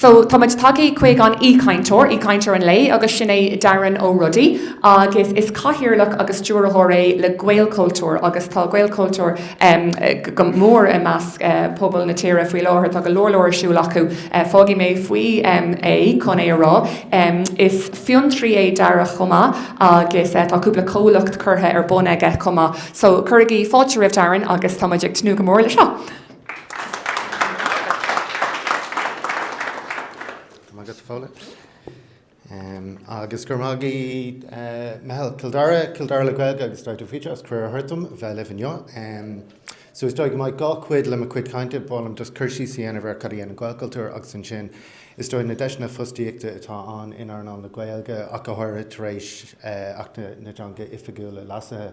So, táimid tagtha chuig an aoichainteoir, aoichainteoir an lae, agus sin é Darren Ó Rodaigh, agus is cathaoirleach agus stiúrthóir é le Gaelchultúr, agus tá Gaelchultúr go mór i measc pobal na tíre faoi láthair, tá go leor leor ar siúl acu. Fágfaidh mé faoi é chun é a rá. Is fiontraí é Darren chomh maith, agus tá cúpla comhlacht curtha ar bun aige chomh maith. So, cuirigí fáilte roimh Darren agus táimid ag tnúth go mór leis seo! Agus go raibh maith ag meitheal Chill Dara, Cill Dara le Gaeilge agus Údarás Fhiontar as cuireadh a thabhairt dom a bheith libh inniu. So is dóigh go mbeidh dhá chuid le mo cuid cainte, b'áil liom just cur síos a dhéanamh ar cad a dhéanann Gaelchultúr agus ansin is dóigh na deiseanna fostaíochta atá ann in earnáil na Gaeilge ach go háirithe tar éis Acht na dTeangacha Oifigiúla leasaithe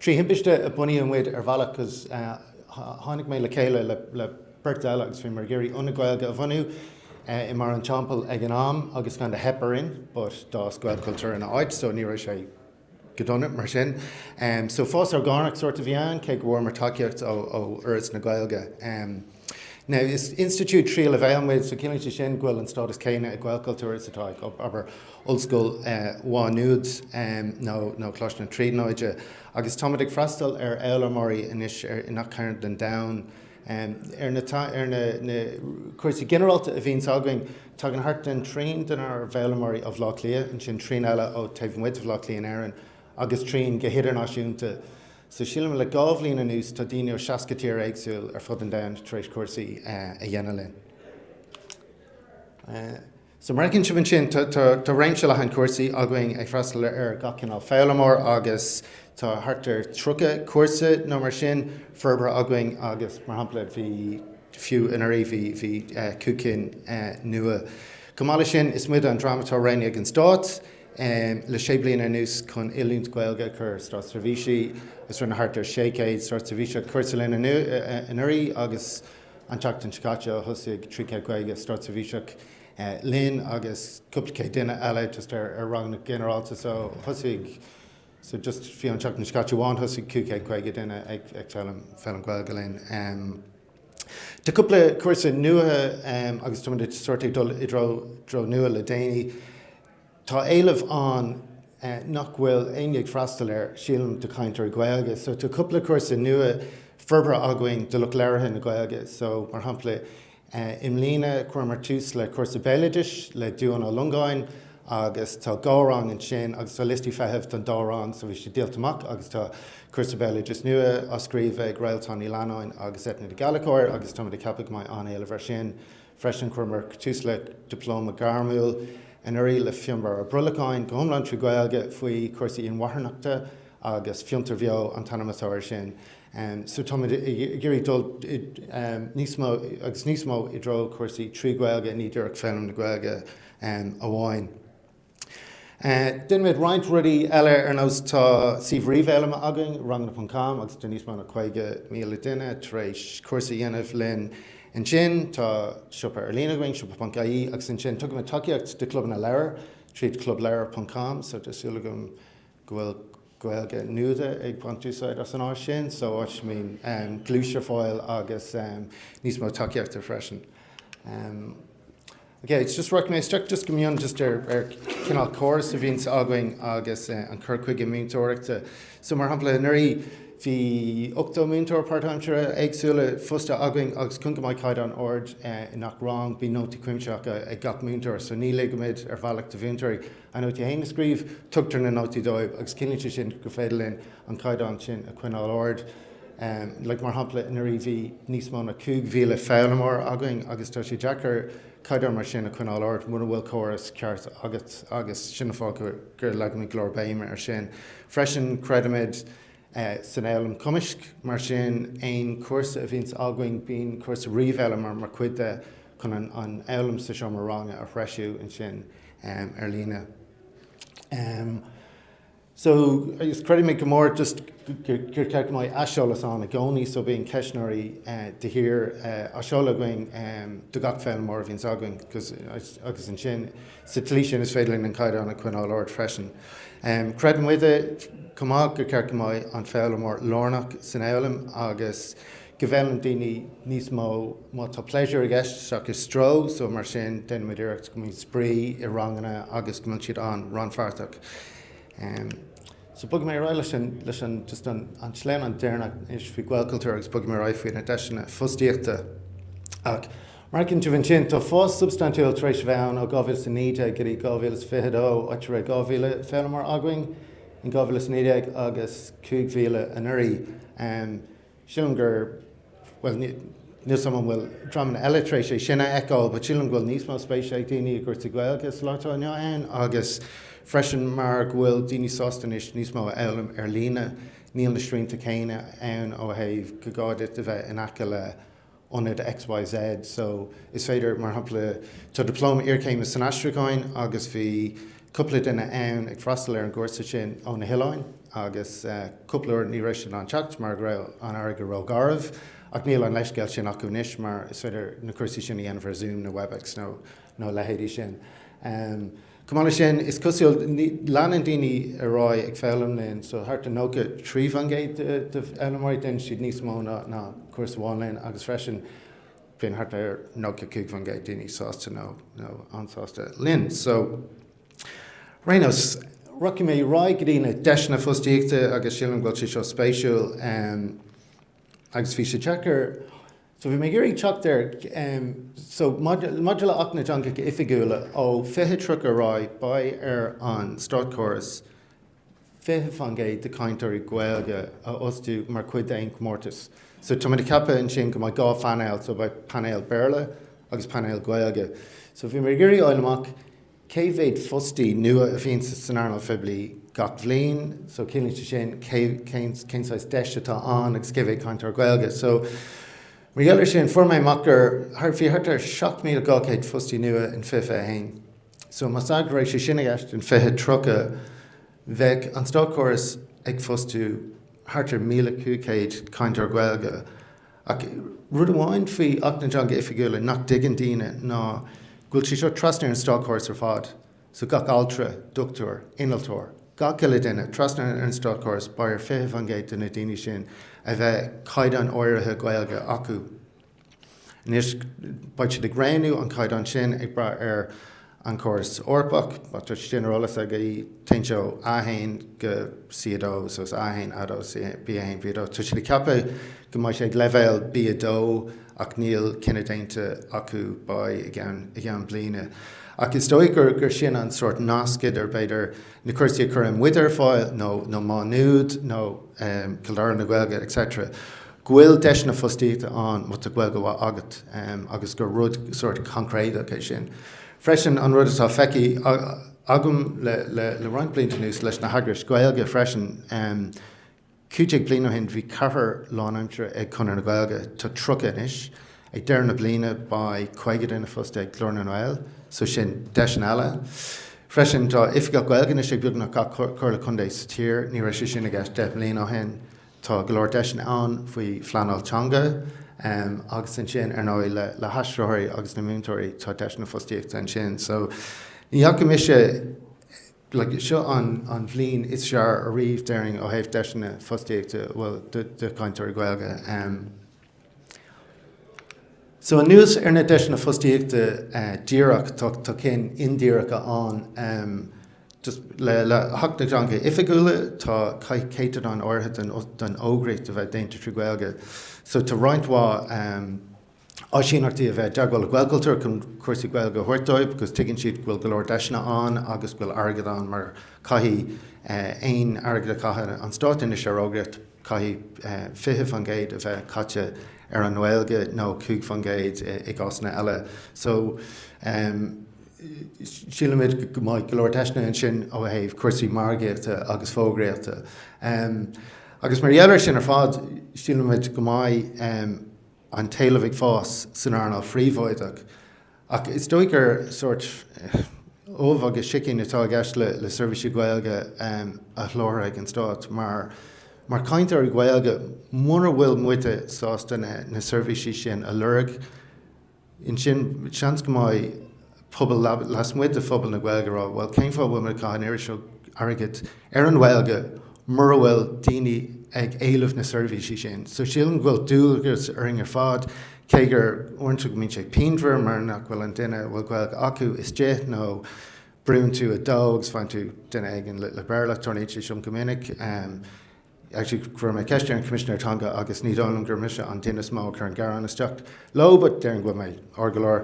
Trí thimpiste a bunaíodh muid ar bhealach agus tháinig mé le chéile le beirt eile agus bhíomar ag iarraidh ionad Gaeilge a bhunú i mBarr an Teampaill ag an am agus cineál theip orainn but d'fhás Gaelchultúr ina áit so ní raibh sé go dona mar sin. So fás orgánach sórt a bhí ann, cé go bhfuaireamar tacaíocht ó Fhoras na Gaeilge. Now, is institiúid tríú leibhéal muid, so ciallaíonn sé sin go bhfuil an stádas céanna ag Gaelchultúr is atá ag, abair, Ollscoil Mhá Nuad nó nó Coláiste na Tríonóide. Agus táimid ag freastal ar fhoghlaimeoirí anois ar gach cearn den domhan. Ar na ar na na cúrsaí ginearálta a bhíonns againn, tagann thart den trian denár bhfoghlaimeoirí ó Bhleá Cliath, ansin trian eile ó taobh amuigh de Bhleá Cliath in Éirinn, agus trian go hidirnáisiúnta. So sílim le dhá bhliain anuas tá daoine ó 60 tír éagsúil ar fud an domhain tar éis cúrsaí a dhéanamh linn. So mar a fheiceann sibh ansin tá réimse leathan cúrsaí againn ag freastal ar gach cineál foghlaimeoir agus tá thart ar 30 cúrsa nó mar sin forbartha againn agus mar shampla bhí fiú anuraidh bhí bhí cúig cinn nua. Chomh maith leis sin is muide an dream atá roghnaithe ag an Stát, le sé bliana anuas chun oiliúint Gaeilge a chur ar státseirbhísigh agus rinne thart ar 600 státseirbhíseach cúrsa linn anuraidh agus an tseachtain seo caite thosaigh 300 caoga státseirbhíseach linn agus cúpla céad duine eile just ar ranganna ginearálta so thosaigh so just fiú an tseachtain seo caite amháin thosaigh cúig chéad caoga duine ag ag foghlaim foghlaim Gaeilge linn um, Tá cúpla cúrsa nua um, agus táimid sórt ag dul i dtreo dtreo nua le déanaí Tá éileamh ann nach bhfuil éinne ag freastal air, sílim, do chainteoirí Gaeilge. So tá cúpla cúrsa nua forbartha againn do lucht labhartha na Gaeilge. So, mar shampla, i mbliana chuireamar tús le cúrsa béaloideasa le Dubhán Ó Longáin agus tá dhá rang ansin agus tá liostaí feithimh don dá rang so bhí siad díolta amach agus tá cúrsa béaloideasa nua á scríobh ag Réaltán Ní Leannáin agus Eithne Ní Ghallchobhair agus táimid ag ceapadh go mbeidh an-éileamh air sin. Freisin chuireamar tús le Dioplóma Gairmiúil anuraidh le Fionnbarra Ó Brollacháin, go hiomlán trí Ghaeilge, faoi chúrsaí inmharthanachta agus Fiontar Beo an t-ainm atá ar sin. So táimid ag iarraidh dul níos mó agus níos mó i dtreo chúrsaí trí Ghaeilge, ní díreach foghlaim na Gaeilge amháin. Deinimid roinnt rudaí eile ar nós tá suíomh ríomhfhoghlama againn, Ranganna Ponc Com, agus tá níos mó ná 50,000 duine tar éis cúrsa a dhéanamh linn ansin. Tá siopa ar líne againn, Siopa Ponc IE, agus ansin tugaimid tacaíocht do chlubanna leabhar tríd Club Leabhar Ponc Com so tá súil agam go bhfuil Gaeilge Nuada ag baint úsáid as an áis sin, so áit a mbíonn gluais ar fáil agus níos mó tacaíochta freisin. Ok, it's just working. Má ritheas just go mion just ar ar cineál córas a bhíonns againn agus an cur chuige múinteoireachta. So mar shampla anuraidh bhí 80 múinteoir páirtaimseartha éagsúla fostaithe againn agus cun go mbeadh caighdeán ard i ngach rang bíonn nótaí cuimsitheacha ag gach múinteoir so ní ligimid ar bhealach do mhúinteoirí a nótaí féin a scríobh, tugtar na nótaí dóibh agus cinntíonn sé sin gur féidir linn an caighdeán sin a choinneáil ard. like Mar shampla, anuraidh bhí níos mó ná 5,000 foghlaimeoir againn agus tá sé deacair caighdeán mar sin a choinneáil ard mura bhfuil córas ceart agat agus sin an fáth go leagaimid go leor béime ar sin. Freisin, creidimid. san fhoghlaim cumaisc. Mar sin, aon chúrsa a bhíonns againn, bíonn cúrsa ríomhfhoghlaim mar mar chuid de chun an an fhoghlaim sa seomra ranga a threisiú ansin ar líne. So, agus creidimid go mór just gur cheart go mbeadh aiseolas ann i gcónaí so bíonn ceistneoirí de shíor á seoladh againn do gach foghlaimeoir a bhíonns againn agus ansin, Sa tslí sin is féidir linn an caighdeán a choinneáil ard freisin. Creideann muide chomh maith gur cheart go mbeadh an foghlaimeoir lárnach san fhoghlaim agus go bhfoghlaimíonn daoine níos mó má tá pléisiúr i gceist seachas stró, so mar sin déanann muid iarracht go mbíonn spraoi i ranganna agus go mbíonn siad an-rannpháirteach. So bogfaidh mé ar aghaidh leis an just an sleamhnán deireanach anois faoi Ghaelchultúr agus bogfaidh mé ar aghaidh faoi na deiseanna fostaíochta. Mar a chíonn sibh ansin. Tá fás substaintiúil tar éis a bheith ann ó 2019 go dtí 2022, áit a raibh 2,000 foghlaimeoir againn in 2019 agus 5,000 anuraidh. Sílim gur, bhuel, níl 's 'am an bhfuil dreamanna eile tar éis é sin a fheiceáil, but sílim go bhfuil níos mó spéise ag daoine i gcúrsaí Gaeilge sa lá atá inniu ann agus freisin mar go bhfuil daoine sásta anois níos mó a fhoghlaim ar líne. Níl na srianta céanna ann ó thaobh gur gá duit a bheith in aice le ionad X, Y, Z. So, is féidir, mar shampla, tá Dioplóma Iarchéime san Aistriúcháin agus bhí cúpla duine ann ag freastal ar an gcúrsa sin ó na hoileáin agus cúpla uair ní raibh siad in ann teacht mar go raibh an fharraige ró-gharbh ach níl an leithscéal sin acu anois mar is féidir na cúrsaí sin a dhéanamh ar Zoom nó Webex nó a leithéidí sin. Chomh maith le sin, is cosúil, leanann daoine ar aghaidh ag foghlaim linn, so thart ar 93% de fhoghlaimeoirí, déanann siad níos mó ná cúrsa amháin linn agus freisin bíonn thart ar 95% daoine sásta nó an-sásta linn. So, ar aon nós, rachaidh mé ar aghaidh go dtí na deiseanna fostaíochta agus sílim go bhfuil sé seo spéisiúil agus bhí sé deacair, So bhí mé ag iarraidh teacht ar, em, so maidir le Acht na dTeangacha Oifigiúla ó fiche tríocha ar aghaidh beidh ar an státchóras fiche fán gcéad de chainteoirí Gaeilge a fhostú mar chuid d'aon chomórtas. So tá muid ag ceapadh ansin go mbeidh dhá phainéal, so beidh painéal Béarla agus painéal Gaeilge. So bhí mé ag iarraidh fháil amach, Cé mhéad fostaí nua a bhíonn san earnáil phoiblí gach bhliain? So ciallaíonn sé sin cé, cén, cén saghas deis atá ann agus cé mhéad cainteoir Gaeilge? So mar gheall ar sin fuair mé amach gur thart, bhí thart ar 7,200 fostaí nua in 2021. So más ea go raibh sé sin i gceist in 2030 bheadh an státchóras ag fostú thart ar 1,500 cainteoir Gaeilge. Ach rud amháin faoi Acht na dTeanga Oifigiúla nach dtuigeann daoine ná go bhfuil sé seo trasna ar an státchóras ar fad. So gach altra, doctúir, innealtóir, gach uile duine trasna ar an státchóras, beidh ar 20% de na daoine sin a bheith caighdeán áirithe Gaeilge acu. Anois beidh siad ag roghnú an caighdeán sin ag brath ar An chóras Eorpach, má tá tuiscint ghinearálta agaibh, téann sé ó A1 go C2 so A1, A2, B1, B2. Tá siad ag ceapadh go mbeidh sé ag leibhéal B2 ach níl cinneadh déanta acu, beidh i gceann bliana. Ach is dóigh gur sin an sórt nasc idir b'fhéidir na cúrsaí a chuireann muide ar fáil nó Má Nuad nó Cill Dara na Gaeilge etc. go bhfuil deiseanna fostaíochta ann má tá Gaeilge mhaith agat agus gur rud sórt coincréideach é sin. Freisin, an rud atá feicthe agam le roinnt blianta anuas leis na heagrais Ghaeilge freisin, cúig déag bliain ó shin bhí ceathrar lánaimseartha ag Conradh na Gaeilge, tá tríocha anois, ag deireadh na bliana beidh caoga duine fostaithe ag Glór na nGael, so sin deiseanna eile. Freisin, tá Oifigeach Gaeilge anois ag beagnach gach comhairle contae sa tír, ní raibh sé sin i gceist deich mbliana ó shin. Tá go leor deiseanna ann faoi phleanáil teanga agus ansin ar ndóigh le haistritheoirí agus na múinteoirí tá deiseanna fostaíochta ansin. So ní fhaca mise, like, seo an an bhliain is fearr ariamh déarfainn ó thaobh deiseanna fostaíochta, bhuel do do chainteoirí Gaeilge. So anuas ar na deiseanna fostaíochta díreach, tá cinn indíreacha ann. Le hAcht na dTeangacha Oifigiúla caithfidh céatadán áirithe den fhógraíocht a bheith déanta trí Ghaeilge. So tá roinnt mhaith áisíneachtaí tar éis a bheith i dteagmháil le Gaelchultúr chun cúrsaí Gaeilge a thabhairt dóibh because tuigeann siad go bhfuil go leor deiseanna ann agus go bhfuil airgead ann mar caithfidh aon airgead a chaitheann an Stát anois ar fhógraíocht Caithfidh 20% a bheith caite ar an nGaeilge nó 5% i gcásanna eile. So sílimid go mbeidh go leor deiseanna ansin ó thaobh cúrsaí margaíochta agus fógraíochta. Agus mar gheall ar sin ar fad, sílimid go mbeidh an t-éileamh ag fás san earnáil phríobháideach. Ach is dóigh gur sórt ubh agus sicín atá i gceist le seirbhísí Gaeilge a sholáthar ag an Stát, mar, mar chainteoirí Gaeilge, mura bhfuil muide sásta na seirbhísí sin a lorg, ansin seans go mbeidh pobal lasmuigh de phobal na Gaeilge ag rá, bhuel, cén fáth a bhfuil muid ag caitheamh an oiread seo airgid ar an nGaeilge mura bhfuil daoine ag éileamh na seirbhísí sin? So sílim go bhfuil dualgas orainn ar fad Cé gur uaireanta go mbíonn sé pianmhar mar nach bhfuil an duine a bhfuil Gaeilge acu istigh nó brúnn tú 2 agus faigheann tú duine éigin le Béarla, tarlaíonn sé sin go minic. Actually chuir mé ceist ar an gCoimisinéir Teanga agus ní dóigh liom gur mise an duine is mó a chuireann gearán isteach leo but déarfainn go bhfuil mé ard go leor.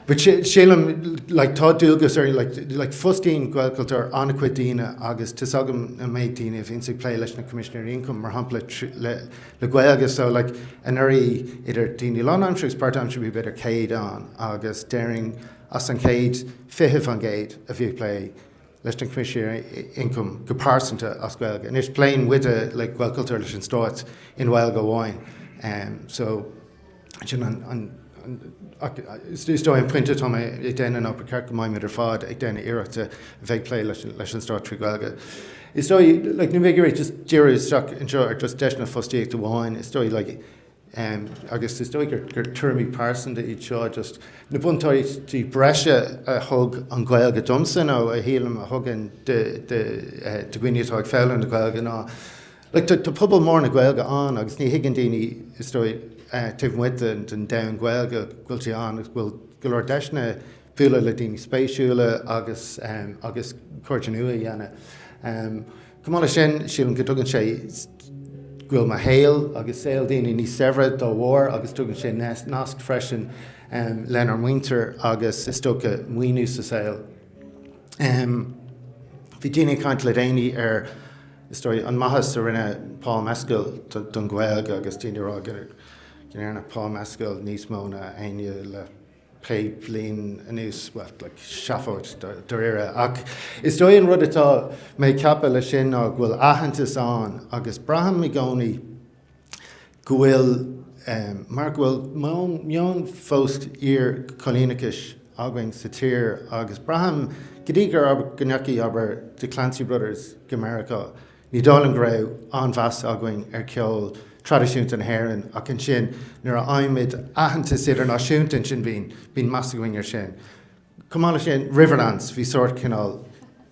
But sílim like tá dualgas orainn like like fostaíonn Gaelchultúr an-chuid daoine agus tá's agam an méid daoine a bhíonns ag plé leis na Coimisinéirí Ioncaim mar shampla le le Gaeilge so like anuraidh idir daoine lánaimseartha agus páirtaimseartha bhí b'fhéidir 100 ann agus déarfainn as an 100, 20% a bhí ag plé leis na Coimisinéirí Ioncaim go pearsanta as Gaeilge. Anois pléann muide like Gaelchultúr leis an Stát i nGaeilge amháin um, so Sin an, an, an, ach is dóigh an pointe atá mé ag déanamh ná ba mhaith go mbeimid ar fad ag déanamh iarracht a bheith ag plé leis, leis an Stát trí Ghaeilge. Is dóigh, like, ní bheidh mé ag iarraidh just díriú isteach anseo ar just deiseanna fostaíochta amháin, is dóigh, like, um, agus is dóigh gur, gur tuairimí pearsanta iad seo, just na buntáistí breise a thug an Ghaeilge domsa nó a shílim a thugann de, de, eh, de dhaoine atá ag foghlaim na Gaeilge ná, Like, tá pobal mór na Gaeilge ann agus ní thuigeann daoine, is dóigh, taobh amuigh den domhan Gaeilge, go bhfuil sé ann agus go bhfuil go leor deiseanna bualadh le daoine spéisiúla agus agus cairde nua a dhéanamh. Chomh maith leis sin, sílim go dtugann sé go bhfuil mo shaol agus saol daoine níos saibhre dá bharr agus tugann sé nasc freisin lenár muintir agus is dócha maoiniú sa saol. Bhí daoine ag caint le déanaí ar Is dóigh an mhaitheas a rinne Paul Mescal don Ghaeilge agus daoine a rá go ndearna Paul Mescal níos mó ná éinne le pé bliain anuas, bhuel, like, seafóid dairíre. Ach is dóigh an rud atá mé a cheapadh le sin ná bhfuil aitheantas ann agus braithim i gcónaí, go bhfuil, mar go bhfuil meon fós iar-choilíneachais againn sa tír agus braithim go dtí go ndeachaigh, abair, The Clancy Brothers go Meiriceá, ní dóigh liom go raibh an-mheas againn ar cheol traidisiúnta na hÉireann ach ansin nuair a fhaighimid aitheantas idirnáisiúnta ansin bíonn meas againn ar sin. Chomh maith le sin, Riverdance, bhí sórt, cineál,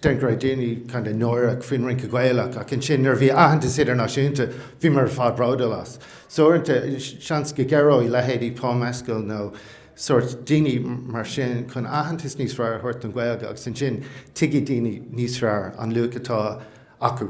déarfá go raibh daoine kind of náireach faoin rince Gaelach ach ansin nuair a bhí aitheantas idirnáisiúnta, bhí muid ar fad bródúil as. So uaireanta, seans go gcabhróidh leithéidí Paul Mescal nó sórt daoine mar sin chun aitheantas níos fearr a thabhairt don Ghaeilge agus ansin tuigfidh daoine níos fearr an luach atá acu.